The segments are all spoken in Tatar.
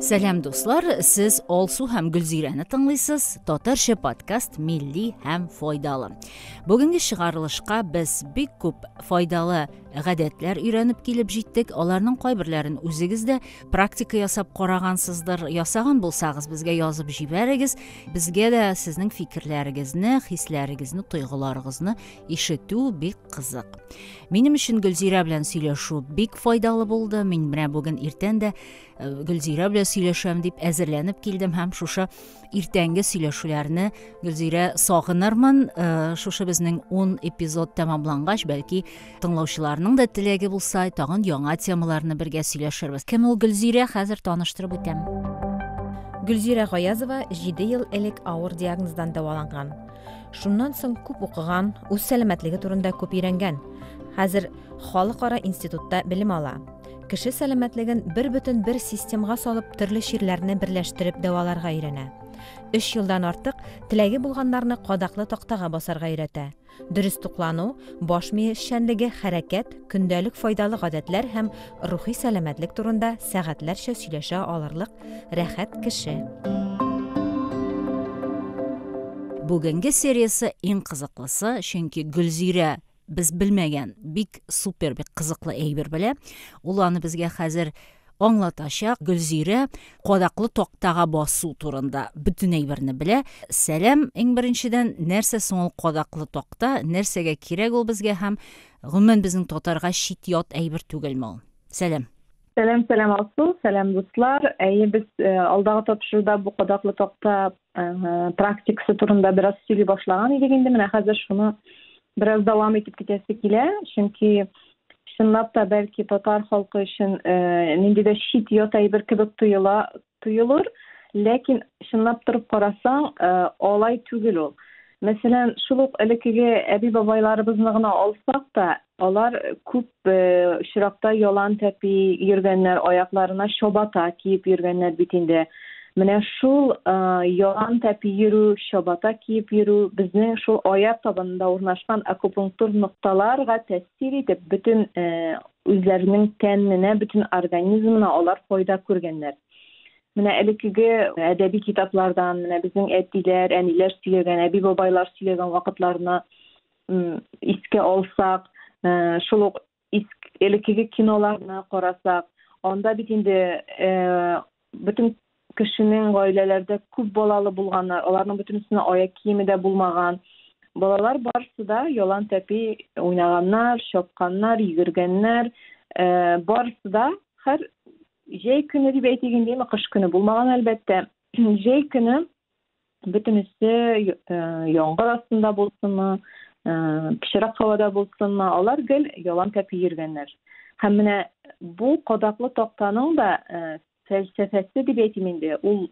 Сәлам дуслар, сез Алсу һәм Гөлзирәне тыңлыйсыз. Татарча подкаст милли һәм файдалы. Бүгенге чыгарылышка без бик күп файдалы гадәтләр өйрәнеп килеп җиттек. Аларның кайберләрен үзегез дә практика ясап карагансыздыр. Ясаган булсагыз, безгә язып җибәрегез. Безгә дә сезнең фикерләрегезне, хисләрегезне, тойгыларыгызны ишетү бик кызык минем өчен гөлзирә белән сөйләшү бик файдалы булды мин менә бүген иртән дә э, гөлзирә белән сөйләшәм дип әзерләнеп килдем һәм шушы иртәнге сөйләшүләрне гөлзирә сагынырмын э, шушы безнең ун эпизод тәмамлангач бәлки тыңлаучыларның да теләге булса тагын яңа темаларны бергә сөйләшербез кем ул гөлзирә хәзер таныштырып үтәм гөлзирә гаязова җиде ел элек авыр диагноздан дәваланган Шуннан соң күп укыган, үз сәламәтлеге турында күп өйрәнгән. Хәзер халыкара институтта белем ала. Кеше сәламәтлеген бер бөтен бер системга салып, төрле чирләрне берләштереп дәваларга өйрәнә. Өч елдан артык теләге булганнарны кадаклы тактага басарга өйрәтә. Дөрес туклану, баш мие эшчәнлеге, хәрәкәт, көндәлек файдалы гадәтләр һәм рухи сәламәтлек турында сәгатьләрчә сөйләшә алырлык Рәхәт кеше. Бүгенге сериясе иң кызыклысы, чөнки Гөлзирә без белмәгән бик супер бик кызыклы әйбер белә. Ул аны безгә хәзер аңлатачак. Гөлзирә кадаклы тактага басу турында бөтен әйберне белә. Сәлам, иң беренчедән, нәрсә соң ул кадаклы такта, нәрсәгә кирәк ул безгә һәм гомумән безнең татарга чит ят әйбер түгелме ул? Сәлам. Сәлам, сәлам Алсу, сәлам дуслар. Әйе, без э, алдагы тапшыруда бу кадаклы такта э, практикасы турында бераз сөйли башлаган идек инде. Менә хәзер шуны бераз дәвам итеп китәсе килә, чөнки чынлап та бәлки татар халкы өчен э, нинди дә чит ят әйбер кебек тоела, Тоелыр, ләкин чынлап торып карасаң, алай түгел ул. Мәсәлән, шул ук элеккеге әби-бабайларыбызны гына алсак та, алар күп очракта ялан тәпи йөргәннәр, аякларына чабата киеп йөргәннәр бит инде. Менә шул ялан тәпи йөрү, чабата киеп йөрү безнең шул аяк табанында урнашкан акупунктур нокталарга тәэсир итеп, бөтен Үзләренең тәненә, бөтен организмына алар файда күргәннәр. Менә элеккеге әдәби китаплардан, менә безнең әтиләр, әниләр сөйләгән, әби-бабайлар сөйләгән вакытларны искә алсак, э, шул ук элеккеге киноларны карасак, анда бит инде э, Бөтен кешенең гаиләләрдә күп балалы булганнар, аларның бөтенесенә аяк киеме дә булмаган. Балалар барысы да ялан тәпи уйнаганнар, чапканнар, йөгергәннәр. Э, барысы да хәр җәй көне дип әйтик инде, кыш көне булмаган әлбәттә. Җәй көне Бөтенесе яңгыр астында булсынмы, пычрак һавада булсынмы, алар гел ялан тәпи йөргәннәр. Һәм менә бу кадаклы тактаның да фәлсәфәсе дип әйтим инде, ул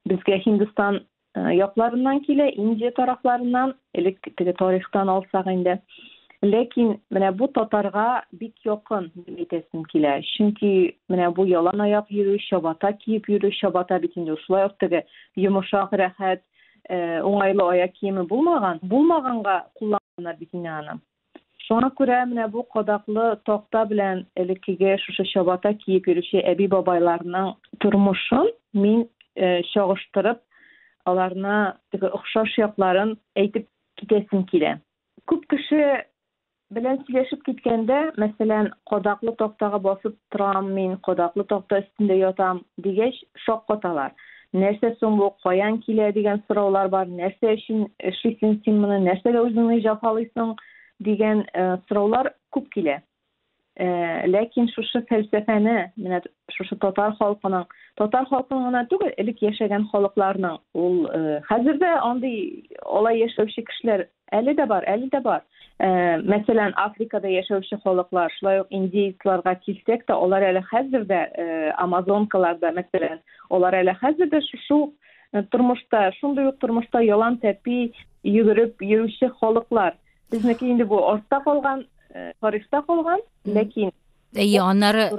безгә Һиндстан якларыннан килә, Индия тарафларыннан, Элек теге тарихтан алсак инде. Ләкин менә бу татарга бик якын дип әйтәсем килә. Чөнки менә бу ялан аяк йөрү, чабата киеп йөрү, чабата бит инде шулай ук теге йомышак, рәхәт, уңайлы аяк киеме булмаган. Булмаганга кулланганнар бит инде аны. Шуңа күрә менә бу кадаклы такта белән элеккеге шушы чабата киеп йөрүче әби-бабайларның тормышын мин чагыштырып, аларны теге охшаш якларын әйтеп китәсем килә. Күп кеше белән сөйләшеп киткәндә, мәсәлән, кадаклы тактага басып торам мин, кадаклы такта өстендә ятам, дигәч, шаккаталар. нәрсә соң бу, каян килә дигән сораулар бар, нәрсә өчен эшлисең син моны, нәрсәгә үзеңне җафалыйсың дигән э, сораулар күп килә. Э, ләкин шушы фәлсәфәне, менә шушы татар халкының, татар халкының гына түгел, элек яшәгән халыкларның, ул э, хәзер дә андый алай яшәүче кешеләр Әле дә бар, әле дә бар. Ә, мәсәлән, Африкада яшәүче халыклар, шулай ук индейцларга килсәк тә, алар әле хәзер дә ә, амазонкаларда, мәсәлән, алар әле хәзер дә шушы ук э, тормышта, шундый ук тормышта ялан тәпи йөгереп йөрүче халыклар. Безнеке инде бу артта калган, э, тарихта калган, ләкин Әйе, аннары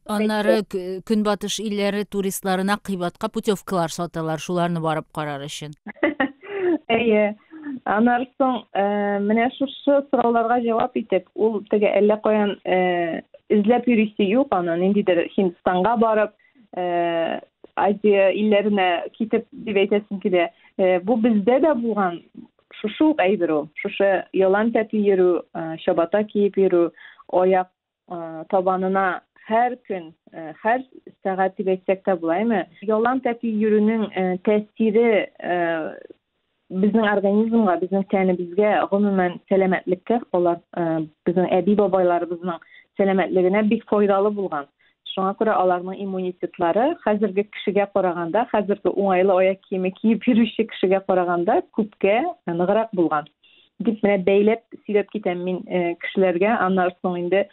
аннары көнбатыш илләре туристларына кыйбатка путевкалар саталар, шуларны барып карар өчен. Әйе. Аннары соң э, менә шушы сорауларга җавап итеп, ул теге әллә каян э, эзләп йөрисе юк аны, ниндидер Һиндстанга барып, э, Азия илләренә китеп дип әйтәсем килә. Бу бездә дә булган шушы ук әйбер ул. Шушы ялан тәпи йөрү, чабата киеп йөрү, аяк табанына һәр көн, һәр сәгать дип әйтсәк тә булаймы, ялан тәпи йөрүнең тәэсире безнең организмга, безнең тәнебезгә, гомумән сәламәтлеккә, алар безнең әби-бабайларыбызның сәламәтлегенә бик файдалы булган. Шуңа күрә аларның иммунитетлары хәзерге кешегә караганда, хәзерге уңайлы аяк киеме киеп йөрүче кешегә караганда күпкә ныграк булган. Дип менә бәйләп сөйләп китәм мин э, кешеләргә, аннан соң инде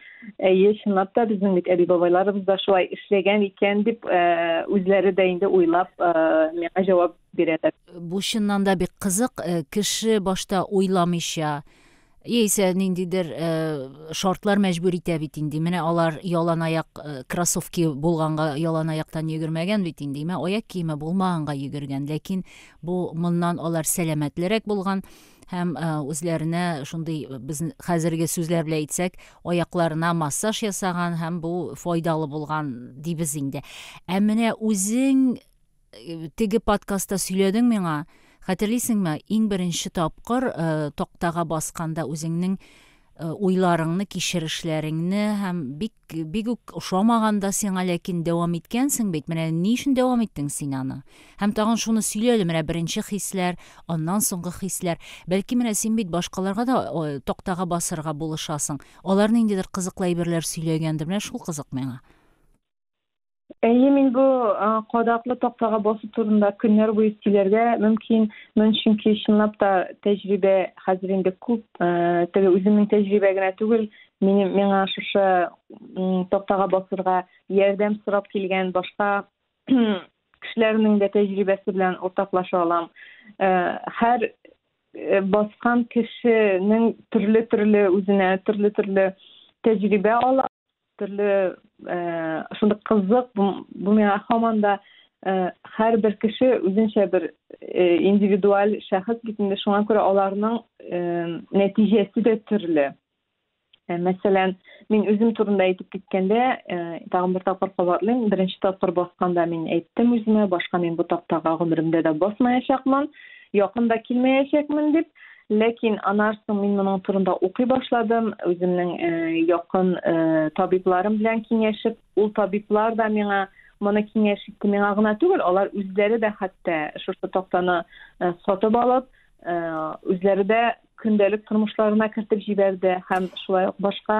әйе, чынлап та безнең бит әби-бабайларыбыз да шулай эшләгән икән дип э, үзләре дә инде уйлап э, миңа җавап бирәләр. Бу чыннан да бик кызык, кеше башта уйламыйча Яисә ниндидер э, шартлар мәҗбүр итә бит инде. Менә алар ялан аяк э, кроссовки булганга ялан аяктан йөгермәгән бит инде. Имә аяк киеме булмаганга йөгергән. Ләкин бу моннан алар сәламәтлерәк булган һәм э, үзләренә шундый э, без хәзерге сүзләр белән әйтсәк, аякларына массаж ясаган һәм бу файдалы булган дибез инде. Ә менә үзең теге подкастта сөйләдең миңа, хәтерлисеңме, иң беренче тапкыр э, тактага басканда үзеңнең э, уйларыңны, кичерешләреңне һәм бик бик үк ошамаган да сиңа, ләкин дәвам иткәнсең бит. Менә ни өчен дәвам иттең син аны? Һәм тагын шуны сөйлә әле, менә беренче хисләр, аннан соңгы хисләр. Бәлки менә син бит башкаларга да э, тактага басырга булышасың. Алар ниндидер кызыклы әйберләр сөйләгәндер. Менә шул кызык миңа. Әйе, мин бу кадаклы тактага басу турында көннәр буе сөйләргә мөмкин. Мин чөнки чынлап та тәҗрибә хәзер инде күп, теге үземнең тәҗрибә генә түгел, минем миңа шушы тактага басырга ярдәм сорап килгән башка кешеләрнең дә тәҗрибәсе белән уртаклаша алам. Һәр баскан кешенең төрле-төрле үзенә төрле-төрле тәҗрибә ала Төрле шундый кызык, бу миңа һаман да һәрбер кеше үзенчә бер индивидуаль шәхес бит инде, шуңа күрә аларның нәтиҗәсе дә төрле. Ә, мәсәлән, мин үзем турында әйтеп киткәндә, ә, тагын бер тапкыр кабатлыйм, беренче тапкыр басканда мин әйттем үземә, башка мин бу тактага гомеремдә дә басмаячакмын, якын да килмәячәкмен дип. Ләкин аннан соң мин моның турында укый башладым, үземнең э, якын э, табибларым белән киңәшеп, ул табиблар да миңа моны киңәш итте. Миңа гына түгел, алар үзләре дә хәтта шушы тактаны э, сатып алып, э, үзләре дә көндәлек тормышларына кертеп җибәрде һәм шулай ук башка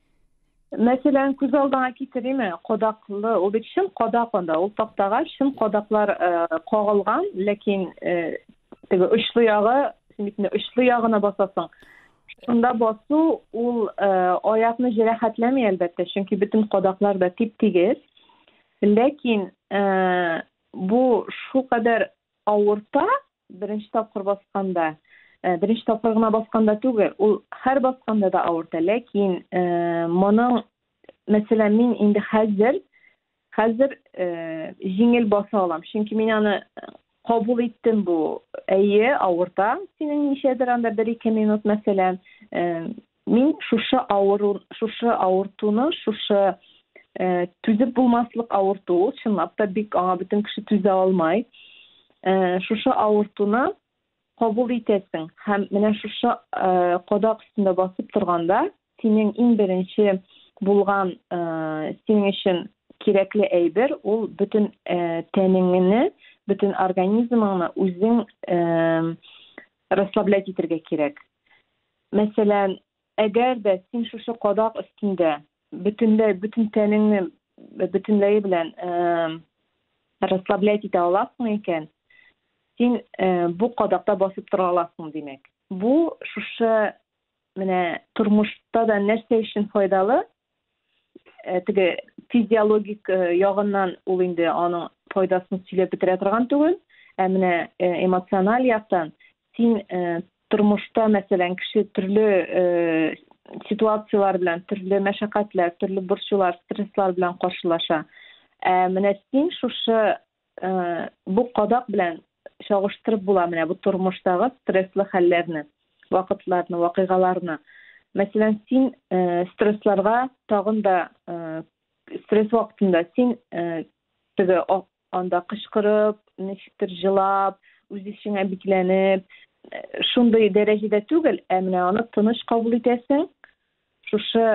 Мәсәлән, күз алдыңа китериме, кадаклы, ул бит чын кадак анда, ул тактага чын кадаклар э, кагылган, ләкин э, теге очлы ягы, син бит инде очлы ягына басасың. Шунда басу ул э, аякны җәрәхәтләми әлбәттә, чөнки бөтен кадаклар да тип-тигез. Ләкин э, бу шулкадәр авырта, Беренче тапкыр басканда, беренче тапкыр гына басканда түгел, ул һәр басканда да авырта, ләкин моның, мәсәлән, мин инде хәзер, хәзер җиңел баса алам, чөнки мин аны кабул иттем бу, әйе, авырта, синең ничәдер анда бер-ике минут, мәсәлән, Мин шушы авыру, шушы авыртуны, шушы э, түзеп булмаслык авырту, ул чынлап та бик аңа бөтен кеше түзә алмай. Э, шушы авыртуны кабул итәсең һәм менә шушы э, кадак өстендә басып торганда синең иң беренче булган э, синең өчен кирәкле әйбер ул бөтен э, тәнеңне бөтен организмыңны үзең э, расслаблять итәргә кирәк Мәсәлән, әгәр дә син шушы кадак өстендә бөтенләй бөтен тәнеңне бөтенләе белән расслаблять итә аласың икән, син бу кадакта басып тора аласың, димәк. Бу шушы менә тормышта да нәрсә өчен файдалы? э, теге физиологик э, ягыннан ул инде аның файдасын сөйләп бетерә торган түгел ә менә э, эмоциональ яктан син тормышта мәсәлән кеше төрле ситуацияләр белән төрле мәшәкатьләр төрле борчулар стресслар белән каршылаша ә менә син шушы Э, бу кадак белән чагыштырып була менә бу тормыштагы стресслы хәлләрне вакытларны вакыйгаларны мәсәлән син э, стрессларга тагын да э, стресс вакытында син теге анда кычкырып ничектер жылап үз эчеңә бикләнеп шундый дәрәҗәдә түгел ә менә аны тыныч кабул итәсең Шушы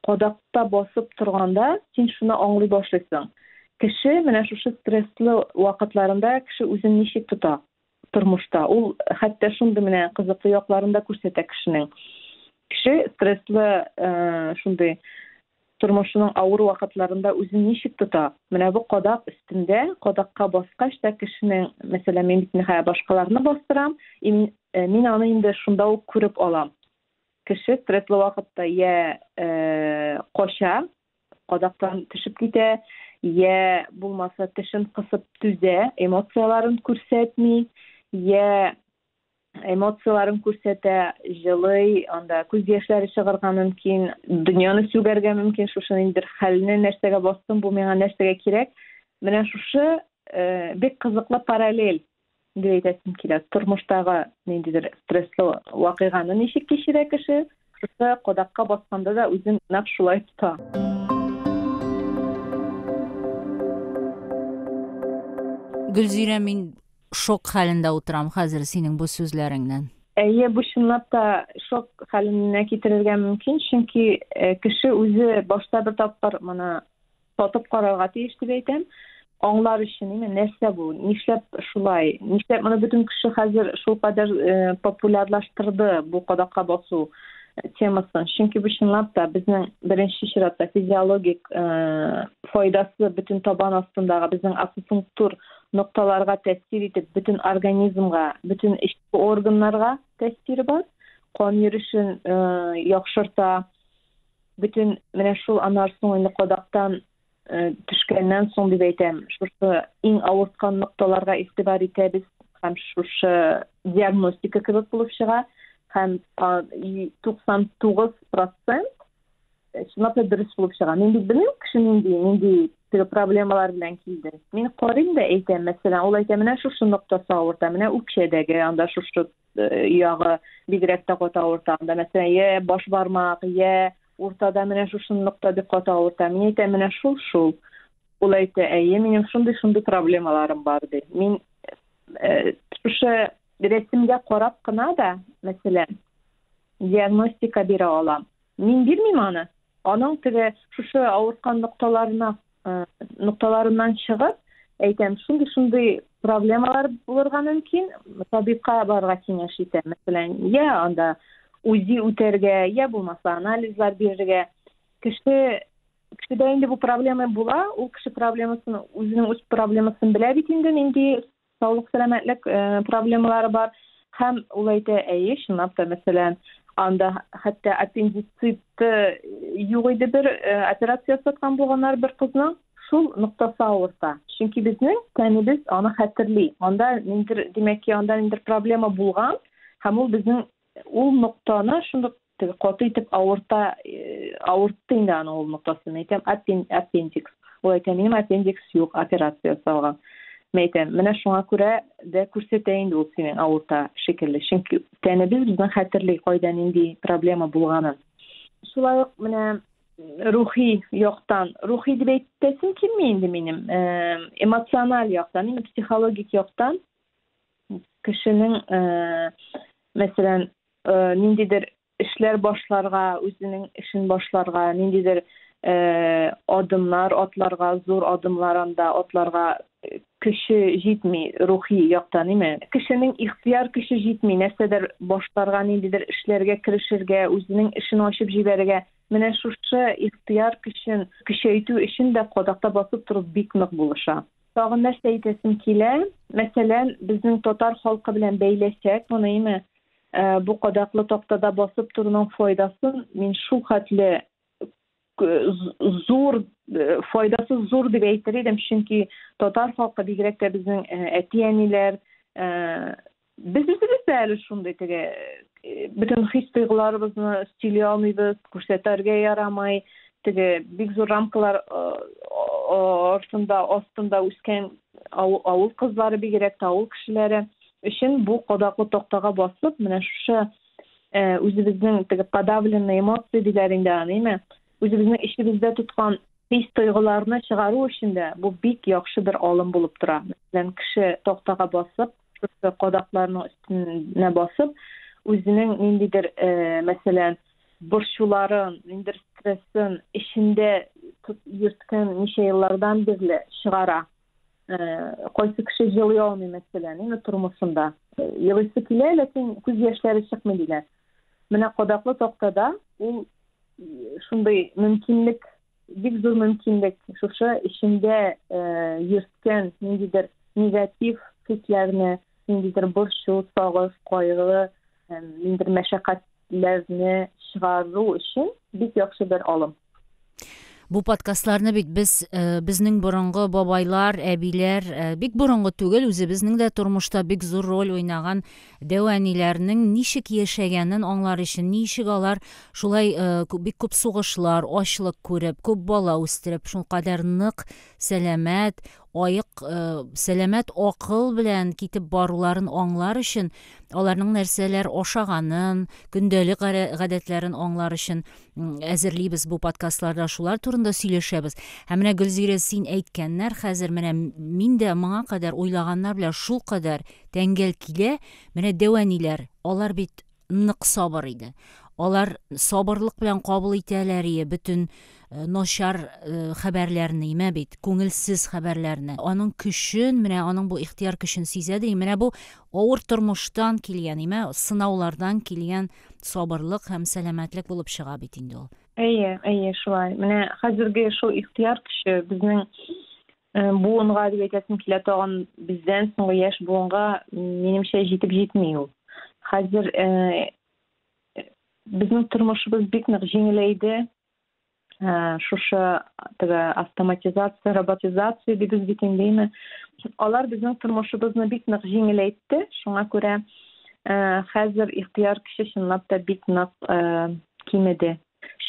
кадакта басып торганда, син шуны аңлый башлыйсың. Кеше менә шушы стресслы вакытларында кеше үзен ничек тота тормышта. Ул хәтта шундый менә кызыклы якларын да күрсәтә кешенең. Кеше стресслы шундый тормышының авыр вакытларында үзен ничек тота? Менә бу кадак өстендә, кадакка баскач та кешенең, мәсәлән, мин бит ниһая башкаларны бастырам, и мин, мин аны инде шунда ук күреп алам. кеше стресслы вакытта йә ә, кача, кадактан төшеп китә, йә булмаса тешен кысып түзә, эмоцияләрен күрсәтми, йә эмоцияләрен күрсәтә, җылый, анда күз яшьләре чыгарга мөмкин, дөньяны сүгәргә мөмкин, шушы ниндидер хәлне нәрсәгә бастым, бу миңа нәрсәгә кирәк. Менә шушы э, бик кызыклы параллель Нинди әйтәсем килә? Тормыштагы ниндидер стресслы вакыйганы ничек кичерә кеше? Шушы кодакка басканда да үзен нәкъ шулай тота. Гөлзирә, мин шок хәлендә утырам хәзер синең бу сүзләреңнән. Әйе, бу чынлап та шок хәленә китерергә мөмкин, чөнки э, кеше үзе башта бер тапкыр моны Татып карарга тиеш дип әйтәм. Аңлар өчен инде нәрсә бу? Нишләп шулай? Нишләп моны бөтен кеше хәзер шул кадәр э, популярлаштырды бу кадакка басу э, темасын? Чөнки бу чынлап та безнең беренче чиратта физиологик э, файдасы бөтен табан астындагы безнең акупунктур нокталарга тәэсир итеп, бөтен организмга, бөтен эчке органнарга тәэсире бар. Кан йөришен э, яхшырта, бөтен менә шул анар соң инде кадактан э, төшкәннән соң дип әйтәм шушы иң авырткан нокталарга игътибар итәбез һәм шушы диагностика кебек булып чыга һәм туксан тугыз процент э, чынлап та дөрес булып чыга мин бит белмим кеше нинди нинди теге проблемалар белән килде мин карыйм да әйтәм мәсәлән ул әйтә менә шушы ноктасы авырта менә үкчәдәге анда шушы Ягы бигрәк тә каты авырта. Анда, мәсәлән, йә баш бармак, йә уртада менә шушы нокта бик каты авырта. Мин әйтәм, менә шул, шул. Ул әйтә, әйе, минем шундый, шундый проблемаларым бар, ди. Мин э, шушы рәсемгә карап кына да, мәсәлән, диагностика бирә алам. Мин бирмим аны. Аның теге шушы авырткан нокталарына э, нокталарыннан чыгып, әйтәм, шундый шундый проблемалар булырга мөмкин, табибка барырга киңәш итә. Мәсәлән, я анда УЗИ үтәргә, я булмаса анализлар бирергә. Кеше кешедә инде бу проблема була, ул кеше проблемасын, үзенең үз проблемасын белә бит инде, нинди саулык сәламәтлек э, проблемалары бар һәм ул әйтә әйе чынлап та мәсәлән анда хәтта аппендицит юк иде бер э, операция ясаткан булганнар бер кызның шул ноктасы авырта чөнки безнең тәнебез аны хәтерли анда ниндер димәк ки анда ниндер проблема булган һәм ул безнең ул ноктаны шундук каты итеп авырта авыртты инде аны ул ноктасын әйтәм аппендикс ул әйтә минем аппендикс юк операция ясалган мен әйтәм менә шуңа күрә дә күрсәтә инде ул синең авырта шикелле чөнки тәнебез безне хәтерли кайда нинди проблема булганын шулай ук менә рухи яктан рухи дип әйтәсем килми инде минем эмоциональ яктан именно психологик яктан кешенең мәсәлән э, ниндидер эшләр башларга, үзенең эшен башларга, ниндидер э, адымнар атларга, зур адымлар анда атларга э, көче җитми, рухи яктан, име? Кешенең ихтыяр көче җитми, нәрсәдер башларга, ниндидер эшләргә керешергә, үзенең эшен ачып җибәрергә. Менә шушы ихтыяр көчен көчәйтү өчен дә кадакта басып тору бик нык булыша. Тагын нәрсә әйтәсем килә? Мәсәлән, безнең татар халкы белән бәйләсәк, моны име? Ә, бу кадаклы тактада басып торуның файдасын мин шул хәтле зур э, файдасы зур дип әйтер идем чөнки татар халкы бигрәк тә безнең э, әти әниләр э, без үзебез дә әле шундый теге бөтен хис тойгыларыбызны сөйли алмыйбыз күрсәтәргә ярамый теге бик зур рамкалар артында астында үскән авыл кызлары бигрәк тә авыл кешеләре өчен бу кадаклы тактага басып, менә шушы э, үзебезнең теге подавленный эмоции диләр инде аныймы, үзебезнең эчебездә тоткан хис тойгыларны чыгару өчен дә бу бик яхшы бер алым булып тора. Мәсәлән, кеше тактага басып, шушы кадакларның өстенә басып, үзенең ниндидер, э, мәсәлән, борчуларын, ниндер стрессын эчендә йөрткән ничә еллардан бирле чыгара. Э, кайсы кеше җылый алмый, мәсәлән, инде тормышында. Э, елыйсы килә, ләкин күз яшьләре чыкмый диләр. Менә кадаклы тактада ул шундый мөмкинлек Бик зур мөмкинлек шушы эчендә йөрткән ниндидер негатив хисләрне, ниндидер борчу, сагыш, кайгы, ниндидер мәшәкатьләрне чыгару өчен бик яхшы бер алым. Бу подкастларны бит без э, безнең борынгы бабайлар, әбиләр, э, бик борынгы түгел, үзебезнең дә тормышта бик зур роль уйнаган Дәү әниләрнең ничек яшәгәнен аңлар өчен, ничек алар шулай бик күп сугышлар, ачлык күреп, күп бала үстереп, шулкадәр нык, сәламәт, аек, сәламәт акыл белән китеп баруларын аңлар өчен, аларның нәрсәләр ашаганын, көндәлек гадәтләрен аңлар өчен, әзерлибез бу подкастларда шулар турында сөйләшәбез һәм менә гөлзирә син әйткәннәр хәзер менә мин дә моңа кадәр уйлаганнар белән шул кадәр тәңгәл килә менә дәвәниләр алар бит нык сабыр иде алар сабырлык белән кабул итәләр ие бөтен э, начар э, хәбәрләрне имә бит күңелсез хәбәрләрне аның көчен менә аның бу ихтияр көчен сизә ди менә бу авыр тормыштан килгән имә сынаулардан килгән сабырлык һәм сәламәтлек булып чыга бит инде ул. Әйе, әйе, шулай. Менә хәзерге шул ихтыяр көче безнең э, буынга дип әйтәсем килә тагын бездән соңгы яшь буынга минемчә җитеп җитми ул. Хәзер э, безнең тормышыбыз бик нык җиңеләйде, ә, шушы теге автоматизация роботизация дибез бит инде алар безнең тормышыбызны бик нык җиңеләйтте шуңа күрә ә, хәзер ихтыяр көче чынлап та бик нык ә, кимеде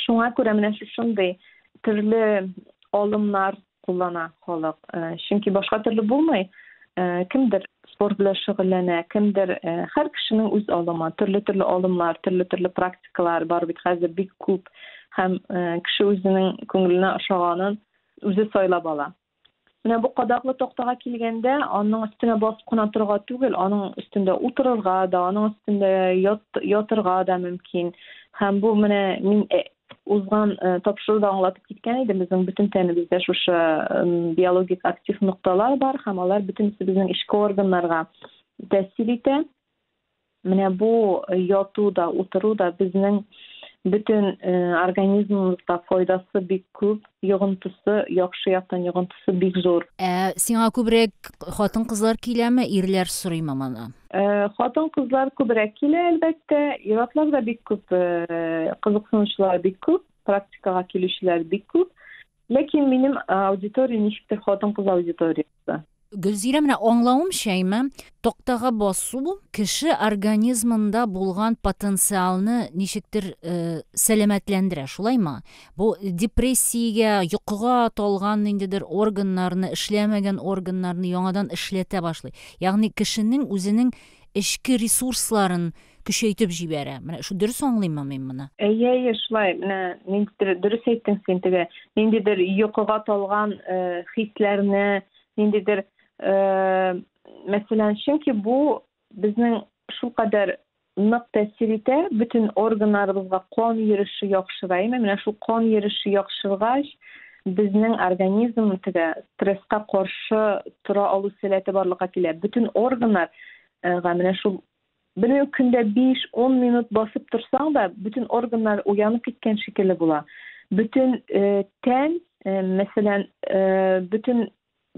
шуңа күрә менә шушындый төрле алымнар куллана халык. Э, чөнки башка төрле булмый. Э, кемдер спорт белән шөгыльләнә, кемдер һәр кешенең үз алымы, төрле-төрле алымнар, төрле-төрле практикалар бар бит хәзер бик күп һәм кеше үзенең күңеленә ошаганын үзе сайлап ала. Менә бу кадаклы тактага килгәндә, аның өстенә басып кына торга түгел, аның өстендә утырырга да, аның өстендә ят, ятырга да мөмкин. Һәм бу менә мин узган э, тапшыруда аңлатып киткән идем безнең бөтен тәнебездә шушы биологик актив нокталар бар һәм алар бөтенесе безнең эчке органнарга тәэсир итә менә бу э, яту да утыру да безнең бөтен э, организмыбызга файдасы бик күп Йогынтысы, яхшы яктан йогынтысы бик зур. Ә сиңа күбрәк хатын-кызлар киләме, ирләр сорыймы моны? Хатын-кызлар күбрәк килә, әлбәттә. Ир-атлар да бик күп, кызыксынучылар бик күп, практикага килүчеләр бик күп. Ләкин минем аудитория ничектер хатын-кыз аудитория. чыкты. Гөлзирә, менә аңлавымча, имә, тактага басу кеше организмында булган потенциалны ничектер э, сәламәтләндерә, шулаймы? Бу депрессиягә, йокыга талган ниндидер органнарны, эшләмәгән органнарны яңадан эшләтә башлый. Ягъни кешенең үзенең эчке ресурсларын көчәйтеп җибәрә. Менә шу дөрес аңлыйммы мин моны? Әйе, әйе, шулай. Менә ниндидер дөрес әйттең син теге, ниндидер йокыга талган э, хисләрне, ниндидер э, мәсәлән, чөнки бу безнең шулкадәр нык тәэсир итә, бөтен органнарыбызга кан йөреше яхшыраймы? Менә шул кан йөреше яхшыргач, безнең организм теге стресска каршы тора алу сәләте барлыкка килә. Бөтен органнар э, га менә шул Бер үк көндә биш-ун минут басып торсаң да, бөтен органнар уянып киткән шикелле була. Бөтен тән, мәсәлән, бөтен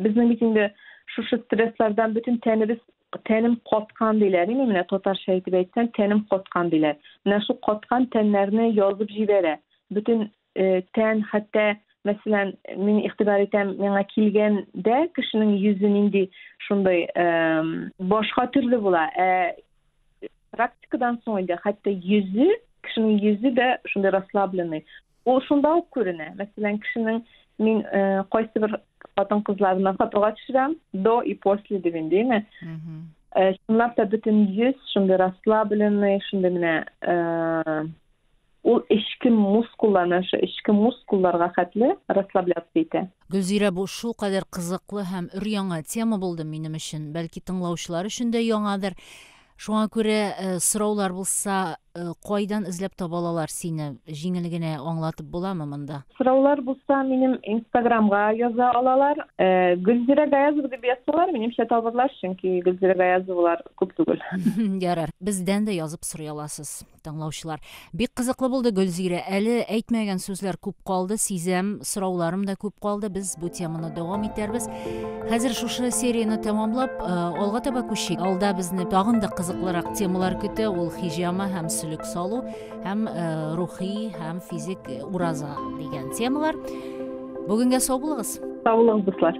безнең бит инде шушы стресслардан бөтен тәнебез тәнем каткан диләр инде менә татарча әйтеп әйтсәң тәнем каткан диләр менә шул каткан тәннәрне язып җибәрә бөтен э, тән хәтта мәсәлән мин игътибар итәм миңа килгәндә кешенең йөзе нинди шундый башка төрле була ә практикадан соң инде хәтта йөзе кешенең йөзе дә шундый расслабленный ул шунда ук күренә мәсәлән кешенең мин э, кайсы бер хатын кызларына фотога төшерәм до и после дип инде дими чынлап та бөтен йөз шундый расслабленный шундый менә э, Ул эчке мускулларны, шул эчке мускулларга хәтле расслабляться итә. Гөлзирә, бу шулкадәр кызыклы һәм өр-яңа тема булды минем өчен, бәлки тыңлаучылар өчен дә яңадыр. Шуңа күрә сораулар булса, кайдан эзләп таба алалар сине? Җиңел генә аңлатып буламы монда? Сораулар булса, минем инстаграмга яза алалар. Гөлзирә Гаязова дип язсалар, минемчә табырлар, чөнки Гөлзирә Гаязовалар күп түгел. Ярар, бездән дә язып сорый аласыз. Тыңлаучылар. Бик кызыклы булды, Гөлзирә. Әле әйтмәгән сүзләр күп калды, сизәм, сорауларым да күп калды. Без бу теманы дәвам итәрбез. Хәзер шушы серияне тәмамлап, э, алга таба күчик. Алда безне тагын да кызыклырак темалар көтә. Ул хиҗама һәм сөлек салу, һәм э, рухи һәм физик ураза дигән темалар. Бүгенгә сау булыгыз. Сау булыгыз, дуслар.